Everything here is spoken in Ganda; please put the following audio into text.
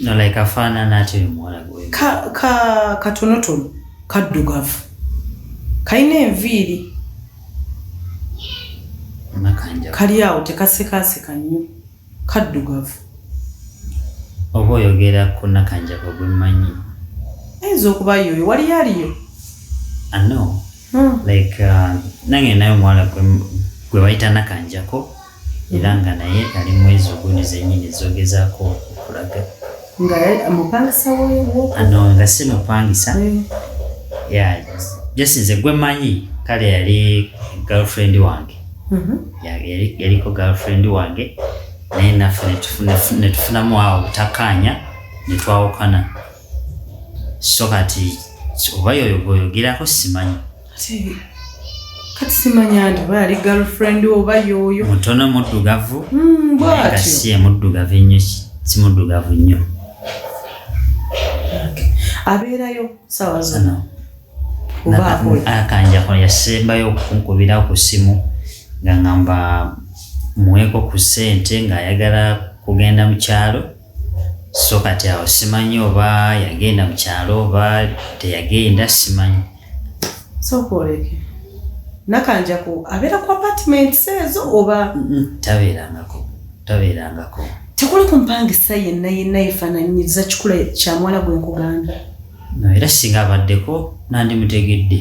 no like afaanana atyo omuwala gwe ka ka katonotono kaddugavu kalina enviiri nakanja kali awo tekasekaseka nnyo kaddugavu oba oyogera ku nakanjako gwe mmanyi ayinza okuba yoyo waliyo aliyo ano Hmm. like uh, nange naye omuwala gwe- gwe bayita nakanjako era nga naye ali mwezi ogwo nezenyini zogezako okulaga ano nga si mupangisa just nze gwe manyi kale yali girlfriend wange mhm. yaliko girlfriend wange naye naffe netufunamu awo butakanya netwawukana so kati oba yoyo gweyogerako simanyi kati simanyi andi oba yali girlfriend oba yoyo mutono muddugavu hmm, si emuddugavu ennyo si muddugavu nnyo abeerayo sawa zino akanjako yasembayo okunkubira ku simu nga ngamba muweeko ku ssente ng'ayagala kugenda mu kyalo so kati awo simanyi oba yagenda mu kyalo oba teyagenda simanyi sokwoleke nakanjako abeera ku apartments ezo oba tabeerangako tabeerangako tekuli ku mpangisa yenna yenna yefaananyiza kikula kya muwala gwe nkuganda no era singa abaddeko nandimutegedde